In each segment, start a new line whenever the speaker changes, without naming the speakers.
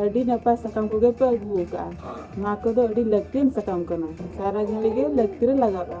ᱟᱹᱰᱤ ᱱᱟᱯᱟᱭ ᱥᱟᱠᱟᱢ ᱠᱚᱜᱮ ᱯᱮ ᱟᱹᱜᱩ ᱟᱠᱟᱫᱼᱟ ᱱᱚᱣᱟ ᱠᱚᱫᱚ ᱟᱹᱰᱤ ᱞᱟᱹᱠᱛᱤᱭᱟᱱ ᱥᱟᱠᱟᱢ ᱠᱟᱱᱟ ᱥᱟᱨᱟ ᱜᱷᱟᱹᱲᱤᱡ ᱜᱮ ᱞᱟᱹᱠᱛᱤ ᱨᱮ ᱞᱟᱜᱟᱜᱼᱟ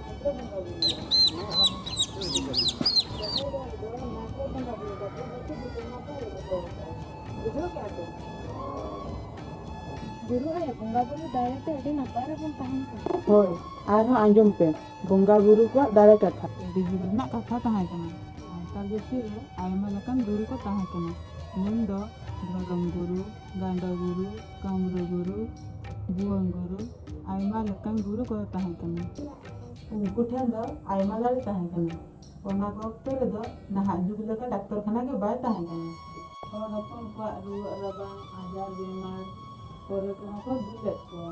ᱦᱳᱭ ᱟᱨᱦᱚᱸ ᱟᱸᱡᱚᱢ ᱯᱮ ᱵᱚᱸᱜᱟ ᱵᱩᱨᱩ ᱠᱚᱣᱟᱜ ᱫᱟᱲᱮ ᱠᱟᱛᱷᱟ ᱫᱤᱡᱩ ᱨᱮᱱᱟᱜ ᱠᱟᱛᱷᱟ ᱛᱟᱦᱮᱸ ᱠᱟᱱᱟ ᱥᱟᱱᱛᱟᱲ ᱡᱟᱹᱛᱤ ᱨᱮ ᱟᱭᱢᱟ ᱞᱮᱠᱟᱱ ᱜᱩᱨᱩ ᱠᱚ ᱛᱟᱦᱮᱸ ᱠᱟᱱᱟ ᱢᱮᱱ ᱫᱚ ᱫᱷᱚᱨᱚᱢ ᱜᱩᱨᱩ ᱜᱟᱸᱰᱚ ᱜᱩᱨᱩ ᱠᱟᱢᱨᱩ ᱜᱩᱨᱩ ᱵᱷᱩᱣᱟᱹᱝ ᱜᱩᱨᱩ ᱟᱭᱢᱟ ᱞᱮᱠᱟᱱ ᱜᱩᱨᱩ ᱠᱚ ᱛᱟᱦᱮᱸ ᱠᱟᱱᱟ ᱩᱱᱠᱩ ᱴᱷᱮᱱ ᱫᱚ ᱟᱭᱢᱟ ᱫᱟᱲᱮ ᱛᱟᱦᱮᱸ ᱠᱟᱱᱟ ᱚᱱᱟ ᱚᱠᱛᱚ ᱨᱮᱫᱚ ᱱᱟᱦᱟᱜ ᱡᱩᱜᱽ ᱞᱮᱠᱟ ᱰᱟᱠᱛᱚᱨ ᱠᱷᱟᱱᱟ ᱜᱮ ᱵᱟᱭ ᱛᱟᱦᱮᱸ ᱠᱟᱱᱟ ᱦᱚᱲ ᱦᱚᱯᱚᱱ ᱠᱚᱣᱟᱜ ᱨᱩᱣᱟᱹᱜ ᱨᱟᱵᱟᱝ ᱟᱡᱟᱨ ᱵᱮᱢᱟᱨ ᱠᱚᱨᱮ ᱠᱚᱦᱚᱸ ᱠᱚ ᱫᱩᱞᱮᱫ ᱠᱚᱣᱟ